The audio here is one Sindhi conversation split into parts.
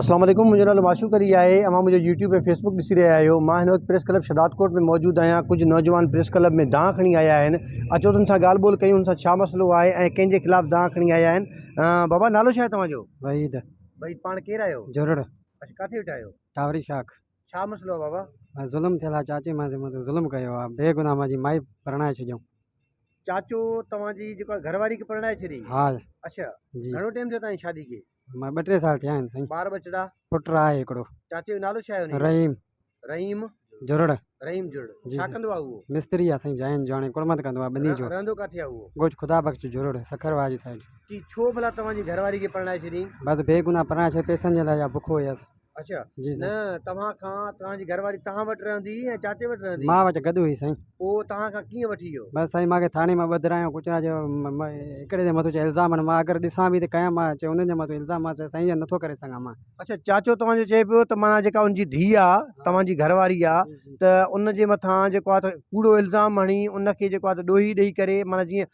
اسلام عليڪم منهنجو نالو معشوق علي آهي اوهان منهنجو يوٽيوب ۽ فيسبوڪ ڏسي رهيا آهيو مان هن وقت پريس ڪلب شھداد ڪوٽ ۾ موجود آهيان ڪجهه نوجوان پريس ڪلب ۾ دانهن کڻي آيا آهن اچو تن سان ڳالهه ٻولهه ڪيون هن سان ڇا مسئلو آهي ۽ ڪنهن جي خلاف دانهن کڻي آيا آهن بابا نالو ڇا آهي توهان جو وحيد وحيد پاڻ ڪير آهيو جوڙڙ اڇا ڪاٿي ويٺا آهيو ٽاوري شاخ ڇا مسئلو آهي بابا ظلم ٿيل آهي چاچي مانجي مٿان ظلم ڪيو آهي بي گناهه مانجي مائي پرڻائي ڇڏيائون چاچو توهان جي جيڪا گهر واري کي پرڻائي ڇڏي ها اڇا جي گهڻو ٽيم ٿيو توهان جي شادي کي مان ٻه ٽي سال ٿيا آهن سائين ٻار ٻچڙا پٽ آهي هڪڙو چاچي جو نالو ڇا آهي انهي جو رحيم رحيم جرڙ رحيم جرڙ جي ڇا جي ڪندو آهي اهو مستري آهي سائين جاين جو هاڻي ڪڙمت ڪندو آهي ٻني رهن جو رهندو ڪاٿي آهي اهو ڳوٺ خدا بخش جرڙ سکر واري سائيڊ چي ڇو ڀلا توهان جي گهر واري کي پرڻائي ڇڏيائين بس بي گناهه پرڻائي ڇڏي پئسن جي لاء يا بک هيس اچا جي سائين نه توهان کان توهان جي گهر واري توهان وٽ رهندي هئي يا چاچي وٽ رهندي مان وٽ گڏ هئي سائين پوء توهان کان ڪيئن وٺي ويو بس سائين مانکي ٿاڻي مان ٻڌرايو ڪچرا جو هڪڙي جي مٿو چيو الزام آهن مان اگر ڏسان به ته ڪيا مان چيو انهن جي مٿو الزام مان چيو سائين اهو نٿو ڪري سگهان مان اچا چاچو توهان جو چئي پيو ته معنيٰ جيڪا ان جي ڌيء آهي توهان جي گهر واري آهي جي جي ته ان جي مٿان جيڪو آهي ته ڪوڙو الزام هڻي ان کي جيڪو آهي ته ڏوهي ڏئي ڪري معنيٰ جيئن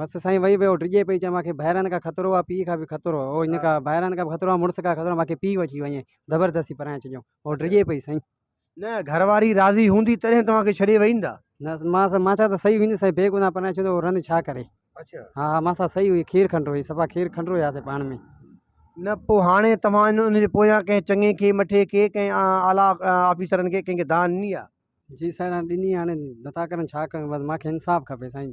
بس سائين وئي ويو ڊڄي پئي چيم ماکي ڀائرن کان خطرو آ پيء کان به خطرو او ان کان ڀائرن کان به خطرو آ مڙس کان خطرو ماکي پيء وٺي وڃي زبردستي پرائي ڇڏيو او ڊڄي پئي سائين نه گهر واري راضي هوندي تڏهن توهان کي ڇڏي وئي نه نه مان سا مان ڇا ته سهي هوندي سائين بيگناهه پرائي ڇڏيو او رند ڇا ڪري اڇا ها ها مان سا سهي هئي کير کنڊرو هئي صفا کير کنڊرو هياسي پاڻ ۾ نه پو هاڻي توهان ان جي پويان ڪنهن چڱي کي مٺي کي ڪنهن اعليٰ آفيسرن کي ڪنهن کي دانهن ڏني آ جي سائين هاڻي ڏني هاڻي نٿا ڪرن ڇا ڪيون بس ماکي انصاف کپي سائين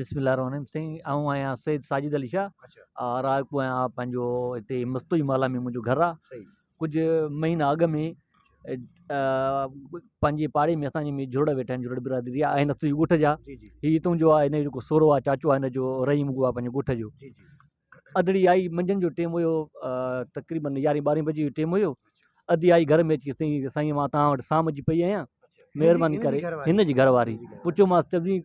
بسم الله الرحمٰن الرحيم سائين آئون آهيان سيد ساجد علي شاھ اچا رائيپور آهيان آ پنهنجو هتي مستوئي محله ۾ منهنجو گهر آهي صحيح ڪجهه مهينا اڳ ۾ پنهنجي پاڙي ۾ اسان جي جهرڙا ويٺا آهن جهرڙ برادري آهي آهن اسان جي ڳوٺ جا جي جي هي هتون جو آهي هن جو جيڪو سهرو آهي چاچو آهي هن جو رحيم اڳو آهي پنهنجو ڳوٺ جو جي جي اڌڙي آئي منجهند جو ٽيم هيو تقريبن يارهين ٻارهين بجي جو ٽيم هيو ادي آئي گهر ۾ اچي سائين سائين مان توهان وٽ سام جي پئي آهيان مهرباني ڪري هن جي گهر واري پڇيومانس چوي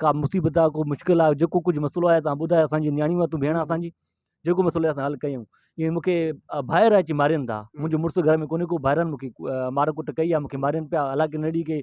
ڪا مصيبت آهي ڪو مشڪل آهي جيڪو ڪجهه مسئلو آهي توهان ٻڌايو اسانجي نياڻي واري تون ڀيڻ آهي اسانجي جيڪو مسئلو آهي اسان حل ڪيون ائين مونکي ڀائر اچي مارين ٿا منهنجو مڙس گهر ۾ ڪونهي ڪو ڀائرن مونکي مار ڪٽ ڪئي آهي مونکي مارين پيا حالانڪه نڙي کي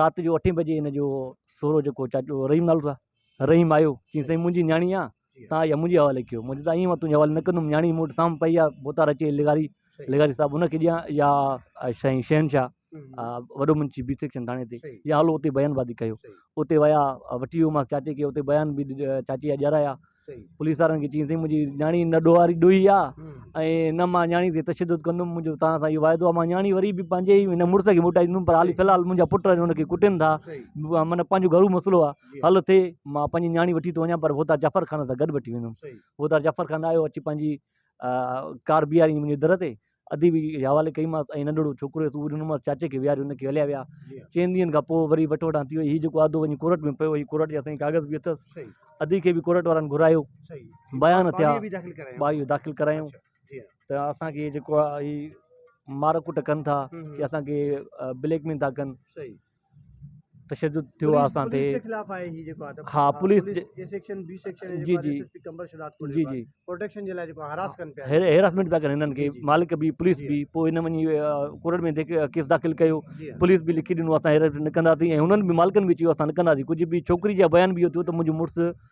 رات جو اٺين بجي ان جو سهرو جيڪو چاچو رحيم نالو اٿس رحيم آيو چيائين سائين منهنجي نياڻي آ تان اها منهنجي حوالي ڪيو مون چيو ايئن مان تنهنجي حوالي نه ڪندم نياڻي مون وٽ سام پئي آ بوتار اچي لغاري لغاري صاحب ان کي ڏيان يا سائين شهنشاهه وڏو منشي بي سيڪشن ٿاڻي تي يا هلو اتي بيان بازي ڪيو اتي ويا وٺي ويومانس چاچي کي اتي بيان به چاچي جا ڏيارايا پوليس وارن کي چيائين سائين منهنجي نياڻي نه ڏوهاري ڏوهي آ ۽ نه مان نياڻي تي تشدد ڪندم منهنجو توهان سان اهو واعدو آ مان نياڻي وري به پنهنجي ئي هن مڙس کي موٽائيندم پر حال فلحال منهنجا پٽ آهن ان کي ڪٽين ٿا معنيٰ پنهنجو گهرو مسئلو آ حل ٿئي مان پنهنجي نياڻي وٺي ٿو وڃان پر ڀوتار جعفر خان سان گڏ وٺي ويندم ڀوتار جعفر خان آيو اچي پنهنجي ڪار بيهاريائين منهنجي در تي ادي به اهي حوالي ڪيمانس ۽ ننڍڙو ڇوڪرو هيس اهو ڏنومانس چاچي کي ويهاري هن کي هليا ويا چئن ڏينهن کان پوء وري وٺ وٺان ٿي وئي هي جيڪو آدو وڃي ڪورٽ ۾ پيو هي ڪورٽ جا سائين ڪاغذ به اٿس صحيح ادي کي به ڪورٽ وارن گهرايو صحيح هي بيان ٻار ٿيا ٻارڙي به داخل ڪرايو ٻاهيون داخل ڪرايون اچھا جي ها ته اسانکي هي جيڪو آهي هي مار ڪٽ ڪن ٿا هم يا هم اسانکي بليڪ ميل ٿا ڪن صحيح تشدد ٿيو آهي اسان تي ها پوليس جي هيراسمينٽ پيا ڪن هنن کي مالڪ به پوليس به پوء هن وڃي ڪورٽ ۾ ڪيس داخل ڪيو پوليس به لکي ڏنو اسان هيراسمينٽ نه ڪنداسين ۽ هنن به مالڪن به چيو اسان نه ڪنداسين ڪجهه به ڇوڪري جا بيان به اهو ٿيو ته منهنجو مڙس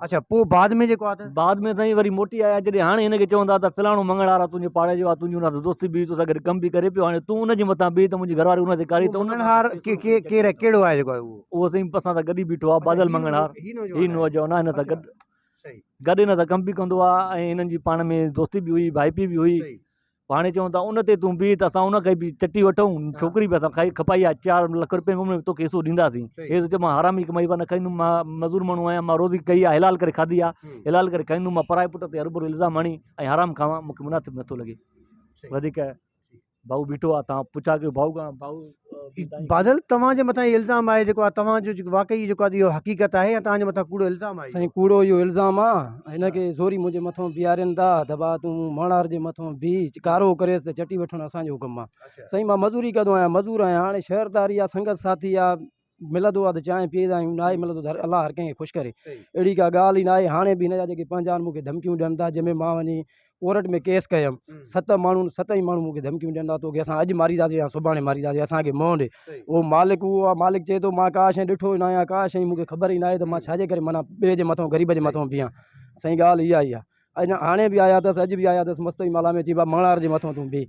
اچا پو بعد ۾ جيڪو آ بعد ۾ سائين وري موٽي آيا جڏهن هاڻي هن کي چون ٿا ته فلاڻو مڱڻهار آ تنهنجي پاڙي جو آ تنهنجي ان دوستي بي تو سان گڏ ڪم به ڪري پيو هاڻي تون ان جي مٿان بيهه ته منهنجي گهر واري ان تي ڪاري ته مڱڻهار ڪير آ ڪهڙو آ جيڪو آ اهو سائين اسان سان گڏ ئي بيٺو آ بادل مڱڻهار هي نوجوان آ هن سان گڏ گڏ هن سان ڪم به ڪندو آ ۽ هنن جي پاڻ ۾ دوستي به هئي ڀائپي به هئي هاڻي چون ٿا ان تي تون بيهه ته اسان ان کي به چٽي وٺون ڇوڪري به اسان کائي کپائي آ چار لک روپين به ۾ توکي حصو ڏينداسين صحيح. هيس چيو مان حرامي ڪمائي وا نه کائيندم مان مزور ماڻهو آهيان مان روزي ڪئي آ حلال ڪري کاڌي آ همم. حلال ڪري کائيندم مان پرائي پٽ تي هروڀرو الزام هڻي ۽ حرام کاوان مون کي مناسب نٿو لڳي صحيح. وڌيڪ ڀائو بيٺو آ تان پڇا ڪيو ڀائو کان ڀائو بادل توهان جي مٿان الزام آهي جيڪو آهي توهان جو جيڪو واقعي جيڪو آهي اهو حقيقت آهي يا توهان جي مٿان ڪوڙو الزام آهي سائين ڪوڙو اهو الزام آ هن کي زوري منهنجي مٿان بيهارين ٿا ته ڀا تون ماڻار جي مٿان بيهه ڪارو ڪريس ته چٽي وٺڻ اسان جو ڪم آ سائين مان مزوري ڪندو آهيان مزور آهيان هاڻي شهرداري آ سنگت ساٿي آ ملندو آهي ته چانهه پيئيندا آهيون، ناهي ملندو ته الله هر ڪنهن کي خوش ڪري. اهڙي ڪا ڳالهه ئي ناهي. هاڻي به هن جا جيڪي پنهنجا آهن مون کي ڌمڪيون ڏين ٿا، جنهن ۾ مان وڃي ڪورٽ ۾ ڪيس ڪيم. ست ماڻهن ست ئي ماڻهو مون کي ڌمڪيون ڏين ٿا، توکي اسان اڄ مارينداسين يا سڀاڻي مارينداسين، اسان کي موهه ڏي. اهو مالڪ اهو آهي، مالڪ چئي ٿو مان ڪا شيء ڏٺو ئي ناهي يا ڪا شيء مون کي خبر ئي ناهي ته مان ڇاجي ڪري معنيٰ ٻئي جي مٿان غريب جي مٿان بيهان. سائين ڳالهه اها ئي آهي. اڃا هاڻي به آيا اٿس، اڄ به آيا اٿس، مستوئي مالا ۾ چئي ڀاء مڱڻهار جي مٿان تون بيهه.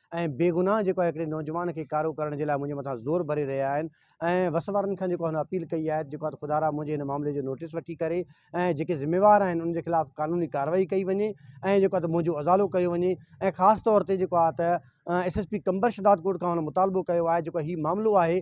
۽ بيگناهه جيڪو آهي هڪڙي نوجوان کي ڪارو ڪرڻ جي لاء منهنجي مٿان زور ڀري رهيا آهن ۽ وس وارن کان جيڪو آهي هن اپيل ڪئي آهي ته جيڪو آهي ته خدارا منهنجي هن معاملي جو نوٽيس وٺي ڪري ۽ جيڪي ذميوار آهن انهن جي خلاف قانوني ڪارروائي ڪئي وڃي ۽ جيڪو آهي ته منهنجو ازالو ڪيو وڃي ۽ خاص طور تي جيڪو آهي ته S S P Qambar Shahdadkot کان هن مطالبو ڪيو آهي جيڪو هي معاملو آهي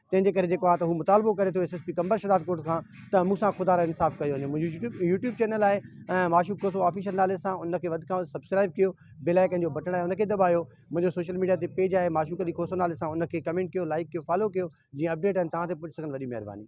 تنهن جي ڪري جيڪو آهي ته هو مطالبو ڪري ٿو S S P Qambar Shahdadkot کان ته مون سان خدارا انصاف ڪيو وڃي منهنجو يوٽيوب يوٽيوب چينل آهي معشوق کوسو آفيشل نالي سان ان کي وڌ کان وڌ سبسڪرائب ڪيو بيل آئڪن جو بٽڻ آهي ان کي دٻايو منهنجو سوشل ميڊيا تي پيج آهي معشوق علي کوسو نالي سان ان کي ڪمينٽ ڪيو لائڪ ڪيو فالو ڪيو جيئن اپڊيٽ آهن تان تي پهچي سگهن وڏي مهرباني